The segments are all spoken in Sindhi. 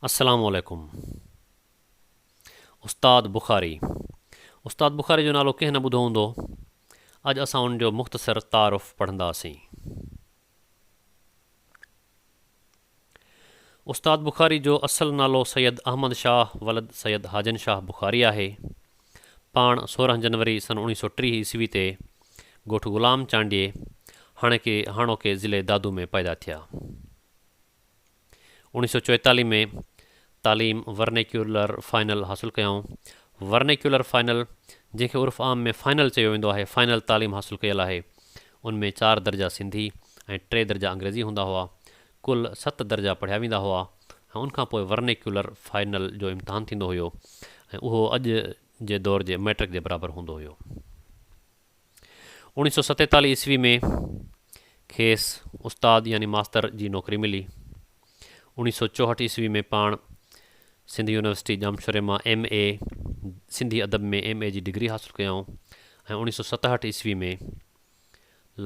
السلام عليڪم استاد بخاري استاد بخاري جو نالو ڪنهن نه ٻڌو هوندو اڄ اسان ان جو مختصر تعارف پڙهنداسين استاد بخاري جو اصل نالو سيد احمد شاهه ولد سيد حاجن شاهه بخاري آهي پاڻ سورهن جنوري سن اوڻيهه سؤ ٽيهه عيسوي تي ڳوٺ غلام چانڊيي، هاڻيڪي هاڻوڪي ضلعي دادو ۾ پيدا ٿيا. اوڻيهه سؤ چوئيتاليهه ۾ تعليم ورنيڪيولر فائنل حاصل ڪيائون. ورنيڪيولر فائنل، جنهن کي عرف عام ۾ فائنل چيو ويندو آهي، فائنل تعليم حاصل ڪيل آهي. ان ۾ چار درجا سنڌي ۽ ٽي درجا انگريزي هوندا هئا. ڪل ست درجا پڙهيا ويندا هئا ۽ ان کان پوء ورنيڪيولر فائنل جو امتحان ٿيندو هيو ۽ اهو اڄ جي دور جي مئٽرڪ جي برابر هوندو هيو. اوڻيهه سؤ ستيتاليهه عيسوي ۾ کيس استاد يعني ماستر جي نوڪري ملي. اوڻيهه سؤ چوهٺ عيسوي ۾ پاڻ سنڌ يونيورسٽي ڄامشوري مان ايم. اي، سنڌي ادب ۾ ايم. اي جي ڊگري حاصل ڪيائون ۽ اوڻيهه سؤ ستهٺ عيسوي ۾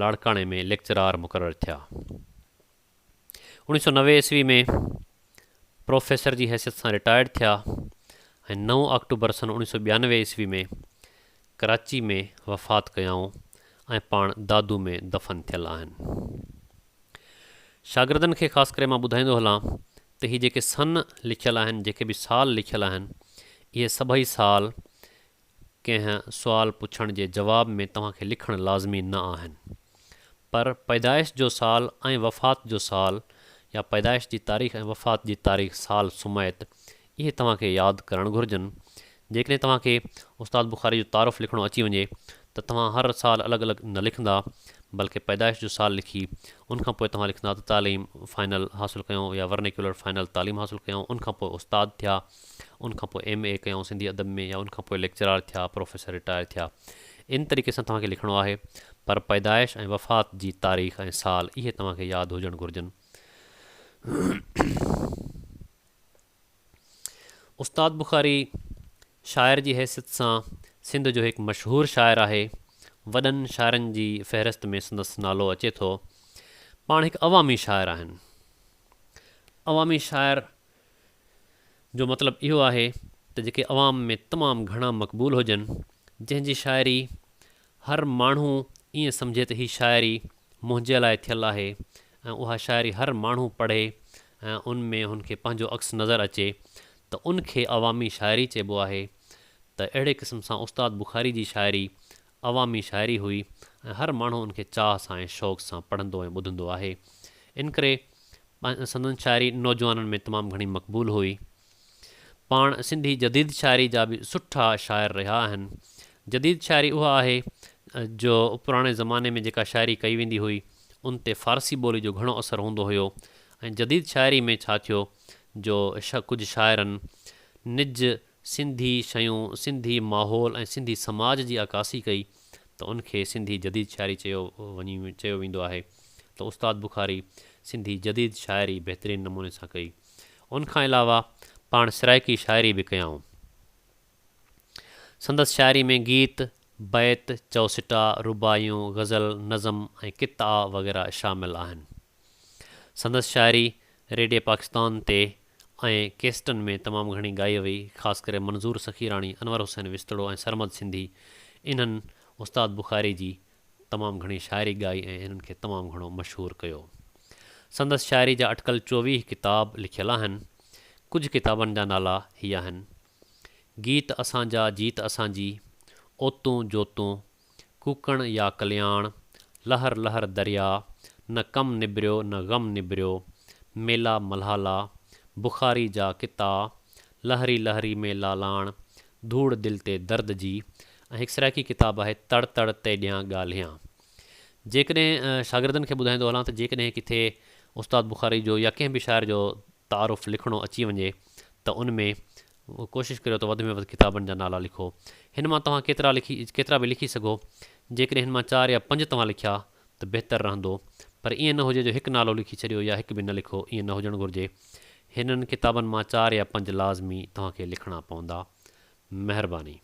لاڙڪاڻي ۾ ليڪچرار مقرر ٿيا. اوڻيھ سؤ نوي عيسوي ۾ پروفيسر جي حيثيت سان رٽائرڊ ٿيا ۽ نو آڪٽوبر سن اوڻيھ سؤ ٻيانوي عيسوي ۾ ڪراچي ۾ وفات ڪيائون ۽ پاڻ دادو ۾ دفن ٿيل آهن. شاگردن کي خاص ڪري مان ٻڌائيندو هلان ته هي جيڪي سن لکيل آهن، جيڪي به سال لکيل آهن، اهي سڀئي سال ڪنهن سوال پڇڻ جي جواب ۾ توهان کي لکڻ لازمي نه آهن پر پيدائش جو سال ۽ وفات جو سال يا پيدائش جي تاريخ ۽ وفات جي تاريخ سال سميت اهي توهان کي ياد ڪرڻ گهرجن جيڪڏهن توهان کي استاد بخاري جو تعارف لکڻو اچي وڃي ته توهان هر سال الڳ الڳ نه لکندا بلڪه پيدائش جو سال لکي ان کان پوء توهان لکندا ته تعليم فائنل حاصل ڪيون يا ورنيڪيولر فائنل تعليم حاصل ڪيون ان کان پوء استاد ٿيا ان کان پوء ايم اي ڪيائون سنڌي ادب ۾ يا ان کان پوء ليڪچرار ٿيا پروفيسر رٽائر ٿيا ان طريقي سان توهان کي لکڻو آهي پر پيدائش ۽ وفات جي تاريخ ۽ سال اهي توهان کي ياد هجڻ گهرجن استاد بخاري شاعر جي حيثيت سان سنڌ جو هڪ مشهور شاعر آهي وڏن شاعرن جي فهرست ۾ سندس نالو اچي ٿو پاڻ هڪ عوامي شاعر آهن عوامي شاعر جو مطلب اهو آهي ته جيڪي عوام ۾ تمام گهڻا مقبول هجن، جنهن جي شاعري هر ماڻهو ائين سمجهي ته هي شاعري منهنجي لاء ٿيل آهي ۽ اها شاعري هر ماڻهو پڙهي ۽ ان ۾ هن کي پنهنجو عڪس نظر اچي ته ان کي عوامي شاعري چئبو آهي ته اهڙي قسم سان استاد بخاري جي شاعري عوامي شاعري هئي ۽ هر ماڻهو ان کي چاهه سان ۽ شوق سان پڙهندو ۽ ٻڌندو آهي. انڪري سندن شاعري نوجوانن ۾ تمام گهڻي مقبول هئي. پاڻ سنڌي جديد شاعري جا به سٺا شاعر رهيا آهن. جديد شاعري اها آهي جو پراڻي زماني ۾ جيڪا شاعري ڪئي ويندي هئي ان تي فارسي ٻولي جو گهڻو اثر هوندو هيو ۽ جديد شاعري ۾ ڇا ٿيو جو ڪجهه شاعرن نج سنڌي شيون، سنڌي ماحول ۽ سنڌي سماج جي عڪاسي ڪئي ته ان کي سنڌي جديد شاعري چيو وڃي چيو ويندو آهي ته استاد بخاري سنڌي جديد شاعري بهترين نموني سان ڪئي. ان کان علاوه پاڻ سرائيڪي شاعري به ڪيائون. سندس شاعري ۾ گيت، بيت، چؤسٽا، رباعيون، غزل، نظم ۽ قطعا وغيره شامل آهن. سندس شاعري ريڊيو پاڪستان تي ۽ ڪيسٽن ۾ تمام گهڻي ڳائي وئي، خاص ڪري منظور سخيراڻي، انور حسين وسطڙو ۽ سرمد سنڌي، انهن استاد بخاري جي تمام گهڻي شاعري ڳائي ۽ انهن کي تمام گهڻو مشهور ڪيو. سندس شاعري جا اٽڪل چوويهه ڪتاب لکيل آهن. ڪجهه ڪتابن جا نالا هي آهن، گيت اسان جا، جيت اسان جي، اوتون، جوتون، ڪوڪڻ يا ڪلياڻ، لهر لهر درياء، نه ڪم نبريو نه غم نبريو، ميلا ملهالا، بخاري جا قطعا، لهري لهري ۾ لالاڻ، ڌوڙ دل تي درد جي ۽ هڪ سرائيڪي ڪتاب آهي تڙ تڙ تيڏيان ڳالهيان. جيڪڏهن شاگردن کي ٻڌائيندو هلان ته جيڪڏهن ڪٿي استاد بخاري جو يا ڪنهن به شاعر جو تعارف لکڻو اچي وڃي ته ان ۾ ڪوشش ڪريو ته وڌ ۾ وڌ ڪتابن جا نالا لکو. هن مان توهان ڪيترا لکي ڪيترا به لکي سگهو. جيڪڏهن هن مان چار يا پنج توهان لکيا ته بهتر رهندو. پر ائين نه هجي جو هڪ نالو لکي ڇڏيو يا هڪ به نه لکو ائين نه هجڻ گهرجي. هنن ڪتابن مان چار يا پنج لازمي توهان کي لکڻا پوندا. مهرباني.